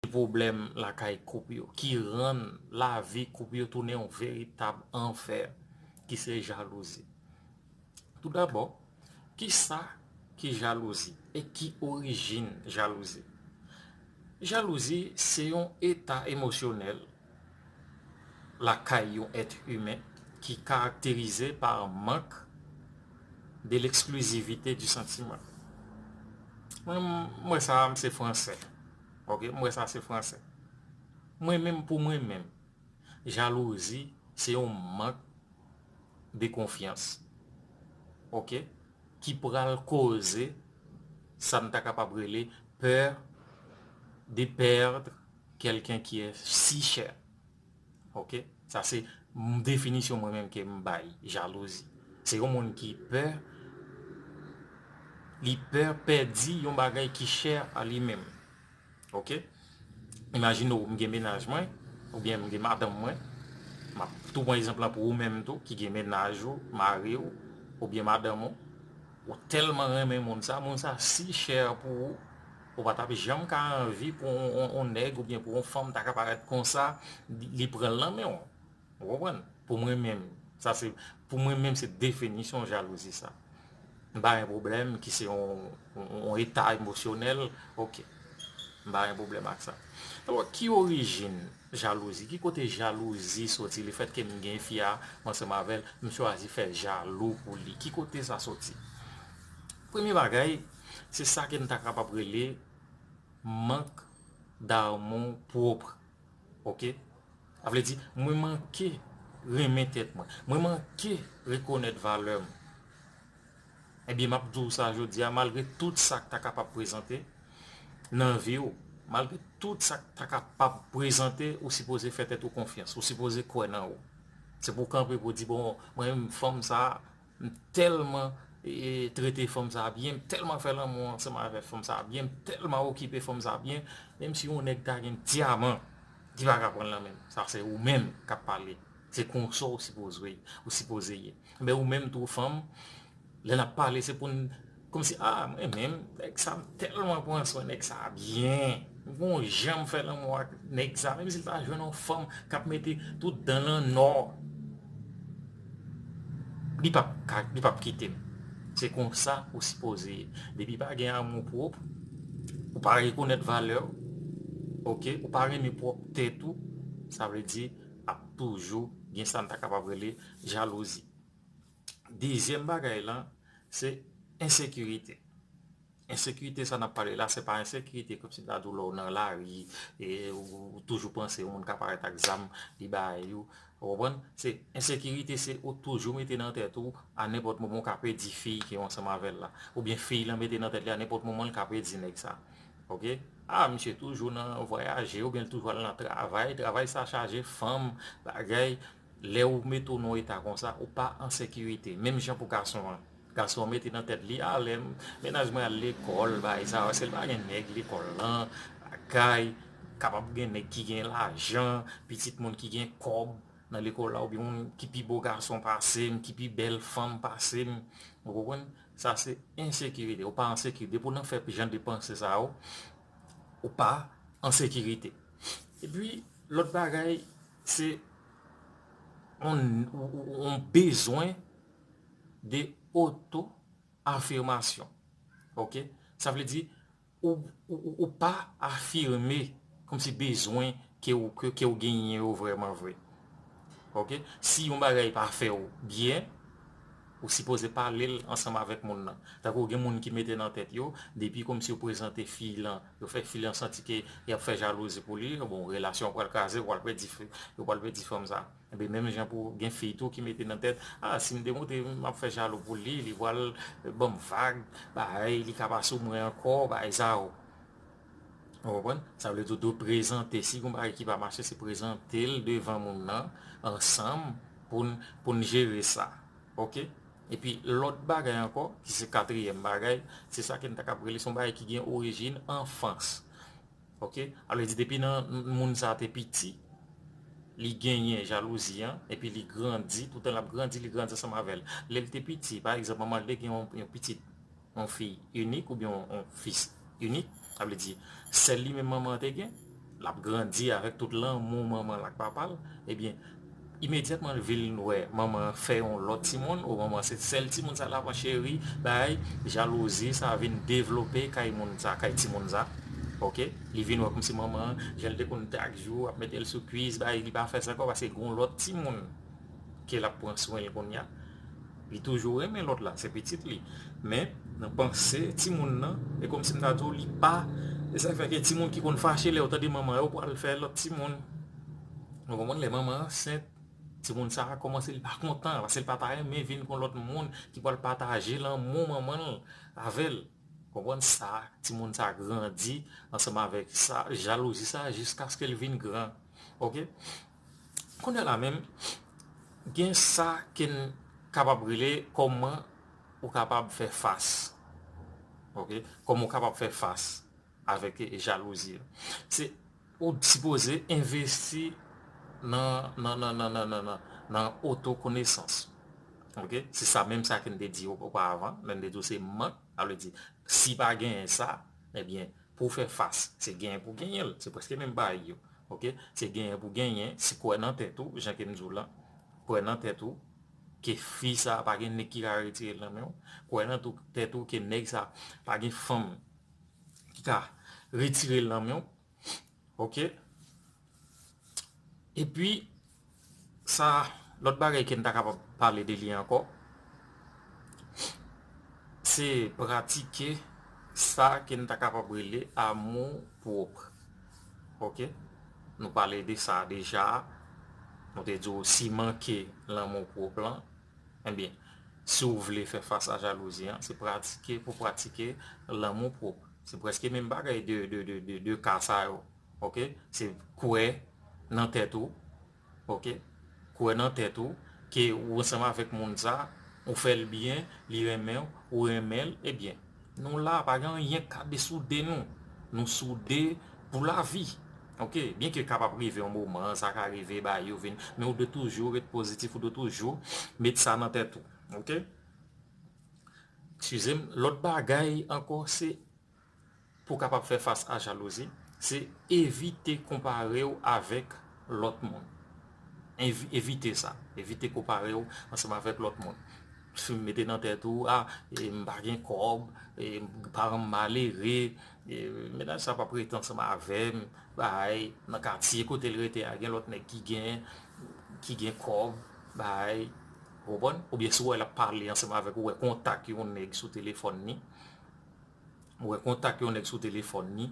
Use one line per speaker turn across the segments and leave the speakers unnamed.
Ki pwoblèm lakay koup yo ki rann lavi koup yo tounen yon veritab anfè ki se jalouzi. Toudabò, ki sa ki jalouzi e ki orijin jalouzi? Jalouzi se yon eta emosyonèl lakay yon èt imen ki karakterize pa mank de l'exclusivité du sentiment. Mwen wè sa, m se fransè. Ok m wè sa se fransè. Mwen menm pou mwen menm jalouzi se yon mank de konfyans ok ki pral koze sa n ta kapab rele peur de perdre quelqu'un qui est si cher. Ok sa se definisyon mwen menm kem bay jalouzi se yon moun ki pè li pè pèdi yon bagay ki chè a li menm ok imajine ou m gen menaj mwen ou byen m gen madanm mwen map tou pran ekzanp la pou ou menm tou ki gen menaj ou mari ou ou byen madanm ou ou tèlman renmen moun sa moun sa si chè a pou ou Ou pa tap janm ka anvi pou yon nèg oubyen pou yon fanm ta ka parèt konsa li pran l nan men w. Ou konprann? Pou mwen menm, sa se, pou mwen menm se definisyon jalouzi sa. M pa gen pwoblèm ki se yon eta emosyonèl, ok. M pa gen pwoblèm ak sa. Donk, ki orijin jalouzi? Ki kote jalouzi soti? Le fèt ke m gen fi a, m ansanm avè l, m chwazi fè jalou pou li. Ki kote sa soti? Premye bagay. Se sa ke n ta kapab rele mank darmon pwopr. Ok? A vle di, mwen manke renmen tèt mwen. Mwen manke rekonèt valè m. Ebyen, m ap di w sa jodi a, malgre tout sa k ta kapab prezante nan vi w, malgre tout sa k ta kapab prezante, ou sipoze fè tèt ou konfyans. Ou sipoze kwè nan ou. Se pou w kanpe pou w di, bon, mwen menm fanm sa a, M telman trete fanm sa byen, m telman fè lanmou ansanm avè fanm sa byen, m telman okipe fanm sa byen, menm si yon nèg ta gen dyaman li pa ka pranl nan menm, sa se ou menm kap pale, se konsa ou sipoze ye, men ou menm tou fanm lè nap pale se poun Komsi ah mwen menm nèg sa m tèlman pran swen nèg sa byen m gon jan m fè lanmou ak nèg sa menm si l ta jwenn yon fanm kap mete tout dan l an nò li pap ka li pap kite m se konsa ou sipoze ye depi pa gen amou pwòp ou pa rekonèt valè w ok ou pa renmen pwòp tèt ou sa vle di ap toujou gen sa n ta kapab rele jalouzi. Dezyèm bagay lan, se ensekirite. Ensekirite sa n ap pale la, se pa ensekirite kòmsi ta di w lè w nan lari, ou toujou panse yon moun ka parèt ak zam, li bay ou. Ou konprann? Se ensekirite se ou toujou mete nan tèt ou a nenpòt moman ou ka pèdi fi ki ansanm avè l la. Oubyen fi lan mete nan tèt li a nenpòt moman li ka pèdi nèg sa. Ok? A, misye toujou nan vwayaje, oubyen li toujou al nan travay, travay sa chaje fanm, bagay. Lè ou mete w nan eta konsa, ou pa an sekirite. Menm jan pou gason an. Gason an mete nan tèt li, a lè mennaj mwen al lekòl, bagay sa yo, si l pa gen nèg lekòl lan, lakay, kapab gen nèg ki gen lajan, pitit moun ki gen kòb nan lekòl la oubyen moun ki pi bo gason pase m, ki pi bèl fanm pase m. Ou konprann? Sa se ensekirite. Ou pa an sekirite. Depi w nan fè jan de panse sa yo, ou pa an sekirite. Epi, lòt bagay. Se yon bezwen de oto afirmasyon. Ok? Sa vle di, ou pa afirme kòm si bezwen ke ou genyen yo vreman vre. Ok? Si yon bagay pa fè ou byen, ou sipoze pale l ansanm avèk moun nan. Tako gen moun ki mete nan tèt yo, depi kòm si yo prezante fi lan, Yo fè fi an santi ke yap fè jalouzi pou li, bon relasyon an pral kraze, yo pral pèdi fi, yo pral pèdi fanm sa. Ebyen menm jan pou gen fi tou ki mete nan tèt, ah sim te monte map fè jalou pou li, li pral banm vag, bae li ka pa sou mwen ankò, bae sa yo. Ou konprann? Sa vle di ou dwe prezante, si gon bagay ki pa mache se prezantel devan moun nan ansanm poun poun jere sa. Ok. Epi lòt bagay ankò, ki se katriyèm bagay, se sa ke n ta kab rele se yon bagay ki gen orijin anfans. Ok, a vle di depi nan moun sa te piti, li genyen jalouzi an, epi li grandi, toutan l ap grandi, li grandi ansanm avè l. Lè l te piti, pa egzanp, manman l te gen yon pitit, yon fi inik oubyen yon fis inik, sa vle di sèl li menm manman an te gen, l ap grandi avèk tout lanmou manman l ak papa l, ebyen imedyatman l vin wè manman an fè yon lòt timoun ou manman an se sèl timoun sa l ap cheri, bagay, jalouzi sa vin devlope kay moun sa, kay timoun sa, ok, li vin wè kòmsi manman an jan l te konn chak jou ap mete l sou kuis, bay, li pa fè sa ankò paske gen yon lòt timoun ke l ap pran swen l kounya. Li toujou renmen lòt la, se pitit li. Men, nan panse timoun nan, e kòm si m ta di w li pa, e sa k fè gen timoun ki konn fache lè yo tande manman yo pral fè lòt timoun. Ou konprann? Lè manman an ansent, timoun sa a kòmanse li pa kontan, paske li pa ta renmen vin kon lòt moun ki pral pataje lanmou manman l avè l. Ou konprann? Sa a, timoun sa a grandi ansanm avèk sa, jalouzi sa a jiskaske l vin gran. Ok? Kounye la menm, gen sa ke n kapab rele kòman ou kapab fè fas. Ok, kòman ou kapab fè fas avèk jalouzi. Se ou sipoze envesti nan otokonesans. Ok, se sa menm sa ke n te di yo opa avan. Lè n te di yo se mank, sa vle di si pa genyen sa, ebyen. Pou w fè fas, se genyen pou w genyen l. Se prèske menm bagay yo. Ok? Se genyen pou w genyen, si kwè nan tèt ou, jan ke m di w lan, kwè nan tèt ou, ke fi sa pa gen nèg ki ka retire l nan men w, kwè nan tèt ou ke nèg sa pa gen fanm ki ka retire l nan men w, Ok Epi sa lòt bagay ke n ta kapab pale de li ankò se pratike sa ke n ta kapab rele amou pwòp Ok Nou pale de sa deja Nou te di w siman ke lanmou pwòp lan Ebyen, si w vle fè fas a jalouzi an, se pratike pou pratike lanmou pwòp. Se prèske menm bagay 2 ka sa yo. Ok, se kwè nan tèt ou, ok, kwè nan tèt ou ke ou ansanm avèk moun sa, ou fè l byen, li renmen w, ou renmen l, ebyen, Nou la pa gen anyen k ka desoude nou. Nou soude pou lavi. Ok, byen ke kapab rive yon moman, sa ka rive bagay yo vin, men ou dwe toujou ret pozitif, ou dwe toujou met sa nan tèt ou. Ok. Eskize m, lòt bagay ankò se pou w kapab fè fas a jalouzi, se evite konpare w avèk lòt moun. Evite sa. Evite konpare w ansanm avèk lòt moun. Si w mete nan tèt ou, ah, m pa gen kòb, paran m malere, mennaj sa pap rete ansanm avè m, baay, nan katye kote l rete a gen lòt nèg ki gen, ki gen kòb, baay, ou konprann? Oubyen si w wè l ap pale ansanm avèk ou, ou wè kontak yon nèg sou telefòn ni, ou wè kontak yon nèg sou telefòn ni,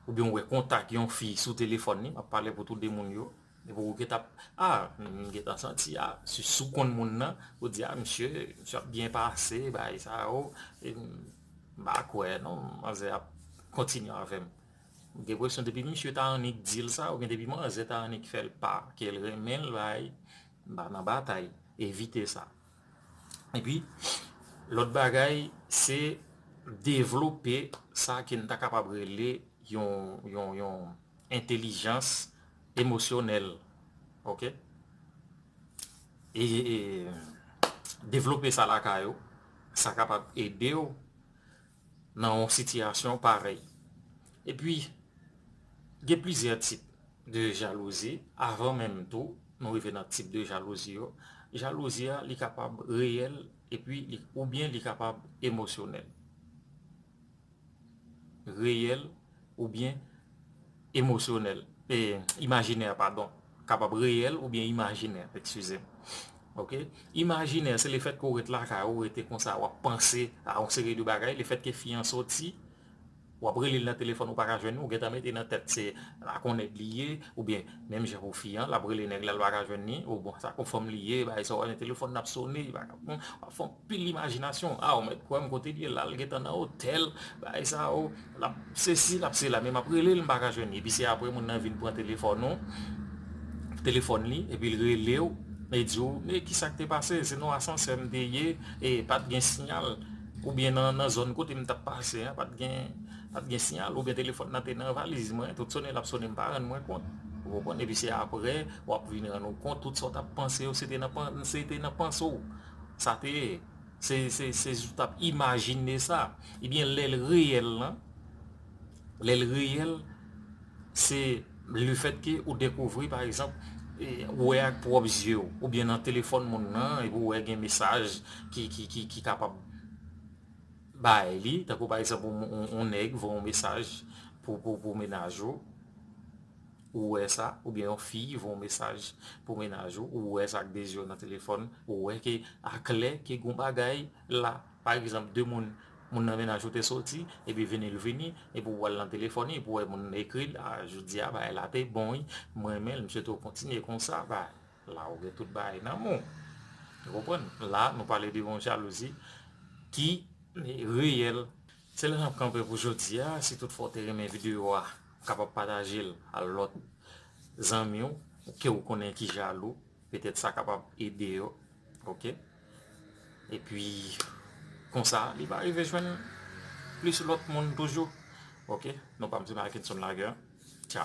oubyen ou wè kontak yon fi sou telefòn ni, m ap pale pou tou de moun yo. Depi ou geta ah m gentan santi ah si si w konn moun nan ou di ah misye misye ap byen pase bagay sa yo m pa kwè non manzè ap kontinye avè m m gen presyon depi misye ta annik di l sa oubyen depi manzè ta annik fè l pa ke l renmen l bay m pa nan batay evite sa epi lòt bagay se devlope sa ke n ta kapab rele yon yon yon entelijans emosyonèl ok e devlope sa lakay ou sa kapab ede ou nan yon sitiyasyon parèy epi gen plizyè tip de jalouzi avan menm tou nou rive nan tip de jalouzi yo jalouzi a li kapab reyèl epi oubyen li kapab emosyonèl. reyèl oubyen emosyonèl, e, imajinè, padon. Kapab reyèl oubyen imajinè, ekskize m. Ok? Imajinè, se lefèt ke w ret lakay ou, rete konsa, w ap panse a yon seri de bagay, lefèt ke fi an soti, w ap rele l nan telefòn ou pa ka jwenn li, ou gen tan mete nan tèt se ak yon nèg li ye, oubyen menm jan pou fi an, l ap rele nèg la, l pa ka jwenn li, ou bon, se ak yon fanm li ye, bagay sa, w ap jwenn telefòn nan ap sone, li pa ka reponn, w ap fon. Pil imajinasyon ah ou mèt kwèm kote li ye la li gentan nan otèl bagay sa oh lap sesi lap sela men map relel m paka jwenn li epi se aprè moun nan vin pran telefòn ou telefòn li epi l relew e di ou e kisak te pase se nan asansè m te ye e pat gen siyal oubyen nan zòn kote m tap pase an pat gen pat gen siyal oubyen telefòn nan te nan valiz mwen tout sone lap sone m pa rann mwen kont ou konprann epi se aprè wap vin rann ou kont tout sa w tap panse yo se te nan panse w Sa te ye. Se, se, se ou t ap imajine sa. Ebyen, lè l reyèl lan, lè l reyèl, se lefètke ou dekouvri, pa egzanp, ou wè ak pwòp zye ou, oubyen nan telefòn moun nan, epi ou wè gen mesaj ki, ki, ki, ki kapab bay li, tankou pa egzanp, yon nèg voye yon mesaj pou, pou, pou mennaj ou. Ou wè sa, oubyen yon fi voye yon mesaj pou mennaj ou, ou wè sa ak 2 zye w nan telefòn, ou wè ke aklè ke gon bagay la. Pa egzanp, 2 moun, moun nan mennaj ou te soti, epi vini l vini, epi ou al nan telefòn li, epi ou wè moun nan ekri l, a, jodi a bagay la te bon wi, m renmen l, m swete w kontinye konsa, ba, la ou gen tout bagay nan men w. Ou konprann? La, nou pale de yon jalouzi ki reyèl. Se la n ap kanpe pou jodi a, si tout fwa ou te renmen videyo a. kapab patajel al lòt zanmiw kew konnen ki jalou petèt sa kapab ede yo ok epi konsa li va rive jwenn plis lòt moun toujou ok nou pam se Marckenson Laguerre tcha.